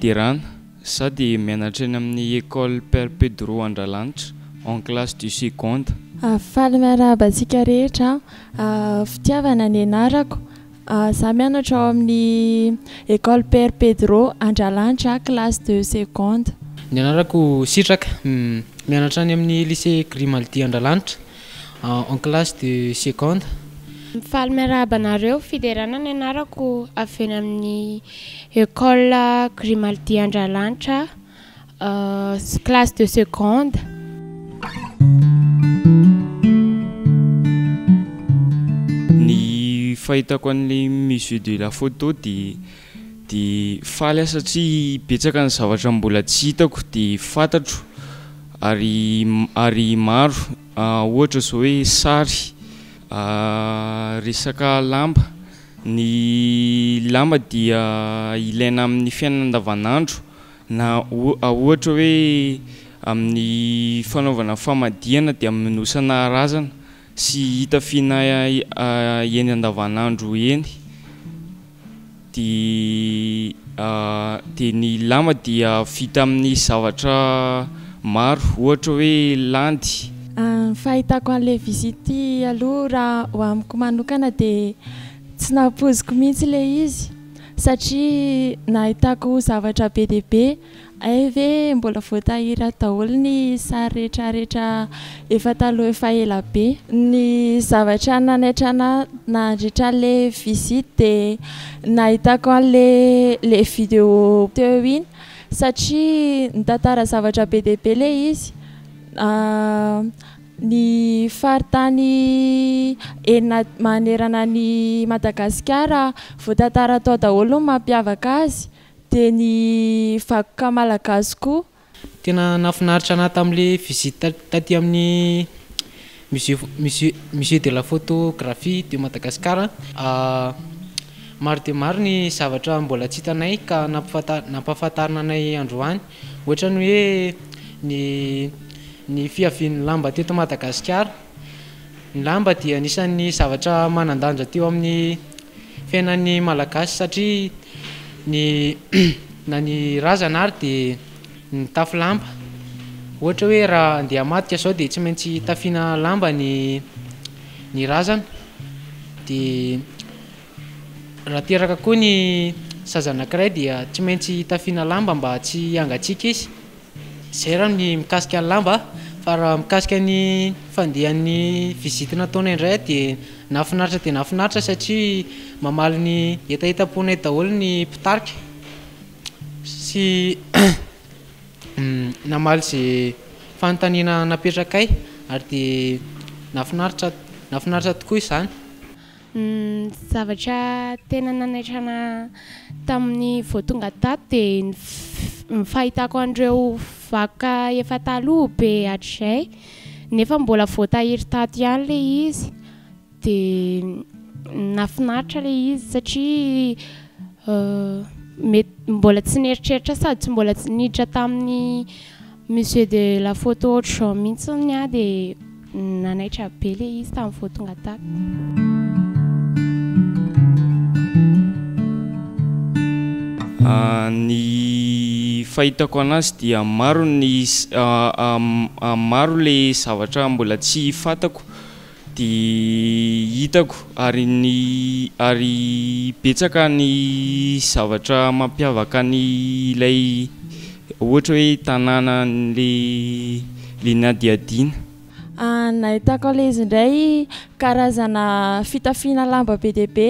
fiderana sady mianatra eny amin'ny Ecole Père Pedro Andralanitra en classe du seconde. Faly miarahaba antsika rehetra. Fitiavana ny anarako Za mianatra ao amin'ny Ecole Père Pedro Andralanitra classe de seconde. Ny anarako Sitraka, mianatra any amin'ny Lycée Grimaldi Andralanitra en classe de seconde. Faly miarahaba anareo, Fiderana ny anarako, avy eny amin'ny Ecole Grimaldi Andralanitra. classe de seconde. Ny fahitako an'ilay musée de la photo dia dia faly aho satria betsaka ny zavatra mbola tsy hitako dia fantatro ary ary maro ohatra izao hoe sary resaka lamba, ny lamba dia ilaina amin'ny fiainana andavanandro. Na ohatra hoe amin'ny fanaovana famadihana dia minosana razana sy itafiana eny andavanandro eny. Dia dia ny lama dia vita amin'ny zavatra maro ohatra hoe landy. Ny fahitako an'ilay visite ity aloha raha ho amiko manokana dia tsy nampoiziko mihitsy ilay izy. satria nahitako zavatra be dia be, hay ve mbola voatahiry daholo ny sary rehetra rehetra efa taloha efa ela be. Ny zavatra nanaitra anà nandritra le visite dia nahitako anle le video teo iny satria nitantara zavatra be dia be le izy. Ny faritany enina manerana an'i Madagasikara voatantara tao daholo ny mampiavaka azy, dia ny vakoka malagasy koa. Tena nahafinaritra anah tamle visite taty aminy musée musée de la photographie de Madagascar maro dia maro ny zavatra mbola tsy hitanay ka nampahafantarina anay androany. Ohatran'ny hoe ny ny fiavian'ny lamba teto Madagasikara. Ny lamba dia anisan'ny zavatra manan-danja teo amin'ny fiainan'ny Malagasy satria ny na ny razana ary dia nitafy lamba. Ohatra hoe raha handeha hamadika izao dia tsy maintsy tafiana lamba ny ny razana dia Raha teraka koa ny zaza anankiray dia tsy maintsy tafiana lamba mba tsy hangatsiaka izy. Izay raha ny mikasika ny lamba fa raha mikasika ny fandehan'ny visite nataonay indray dia nahafinaritra dia nahafinaritra satria mamaly ny hetahetam-ponay daholo ny mpitarika sy namaly izay fanontaniana napetrakay ary dia nahafinaritra nahafinaritra tokoa izany. Ny zavatra tena nanaitra ana tamin'ny vao tonga tato dia ny ny fahitako an'ireo vakoka efa taloha be hatrizay nefa mbola voatahiry tato ihany ilay izy dia nahafinaritra ilay izy satria mety mbola tsy nieritreritra sady tsy mbola niditra tamin'ny Monsieur de la photo autre genre mintsiny ah de nanaitra be le izy tam vo tonga tato. Ny fahitako anazy dia maro ny maro le zavatra mbola tsy fatako Dia hitako ary ny ary betsaka ny zavatra mampiavaka ny ilay ohatra hoe tanàna le le nadiadiana. Nahitako an'ilay izy indray karazana fitafiana lamba be dia be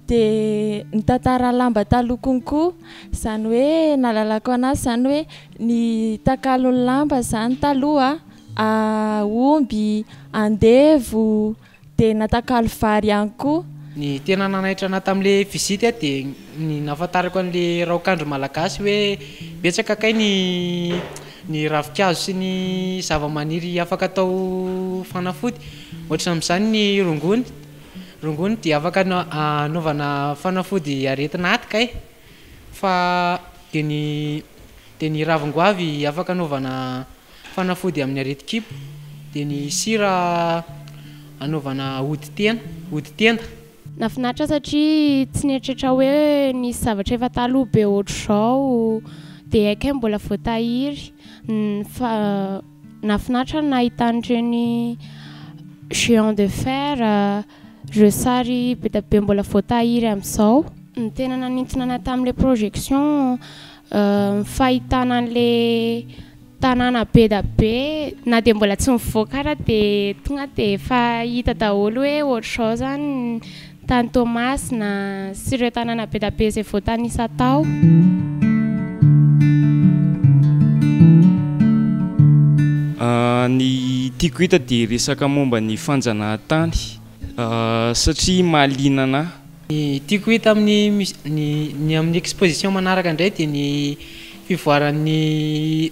dia nitantara lamba taloha konko izany hoe nahalalako an'azy izany hoe ny takalon'ny lamba izany taloha. omby, andevo, dia natakalo vary ihany koa. Ny tena nanaitra anah tamin'ilay visite aho dia ny nahafantarako an'ilay raokandro malagasy hoe betsaka kay ny ny ravinkazo sy ny zavamaniry afaka atao fanafody ohatrany amin'izany ny rongony, rongony dia afaka anaovana fanafody aretin'aty kay fa dia ny dia ny ravin-goavy afaka anaovana Fanafody amin'ny aretin-kibo dia ny sira anaovana ody tena, ody tenda. Nafinaritra satria tsy nieritreritra hoe nisy zavatra efa taloha be ohatr'izao dia ekm mbola voatahiry. Nafinaritra ny nahita an'ireny géant de fer. Ireo sary be dia be mbola vao tahiry amin'izao. Ny tena nanintona anay tamin'ilay projection, ny fahitana an'ilay tanàna be dia be, na dia mbola tsy mivoaka ara dia tonga dia efa hita daholo hoe ohatr'izao izany ny tany Toamasina. sy ireo tanàna be dia be izay voatanisa tao. Ny tiako hita dia resaka momba ny fanjanahantany satria mahaliana anah. Ny tiako hita amin'ny ny amin'ny exposition manaraka indray dia ny fivoaran'ny.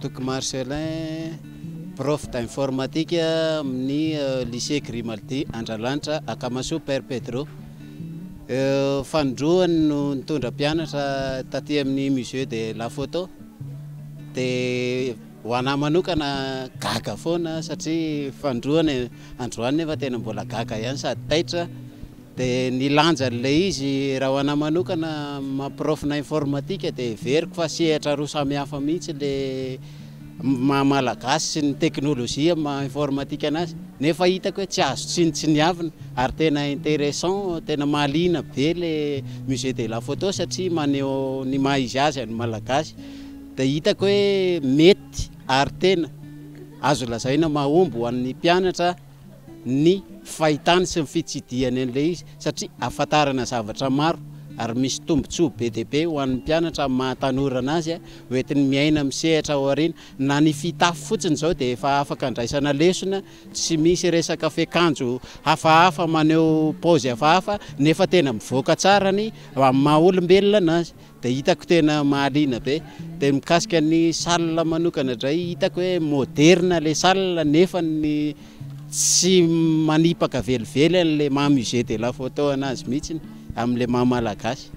Toky Marcellin, prof d'informatique amin'ny lycée Grimaldi Andralanitra Akamasoa Père Pedro. Fanindroany no nitondra mpianatra taty amin'ny musée de la photo dia ho anahy manokana gaga foana aho satria fanindroany, androany nefa tena mbola gaga ihany sady taitra. Dia ny lanjan'ilay izy raha ho anà manokana mampiraofina informatika dia heveriko fa sehatra roa samihafa mihitsy ilay maha malagasy sy ny teknolojia maha informatika anazy nefa hitako hoe tsy azo tsinontsiniavina ary tena intéressant, tena mahaliana be ilay musée de la photo satria maneho ny maha izy azy an'ny malagasy dia hitako hoe mety ary tena azo lazaina mahomby ho an'ny mpianatra. ny fahitany sy ny fitsidihany an'ilay izy satria ahafantarana zavatra maro ary misy tombontsoa be dia be ho an'ny mpianatra amin'ny maha tanora an'azy ho entiny miaina amin'ny sehatra ao aoriana. Na ny fitafy fotsiny izao dia efa afaka andraisana lesona, tsy misy resaka fiakanjo hafahafa maneho paozy hafahafa nefa tena mivoaka tsara ny amin'ny maha olombelona an'azy. Dia hitako tena mahaliana be. Dia mikasika ny salle manokana dray, hitako hoe moderne ilay salle nefa ny tsy manipaka velively an'ilay maha musée de la photo anazy mihitsiny, amin'ilay maha malagasy.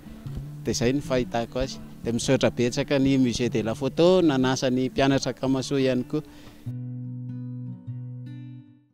Dia izay no fahitako azy. Dia misaotra betsaka ny musée de la photo nanasa ny mpianatra Kamasoa ihany koa.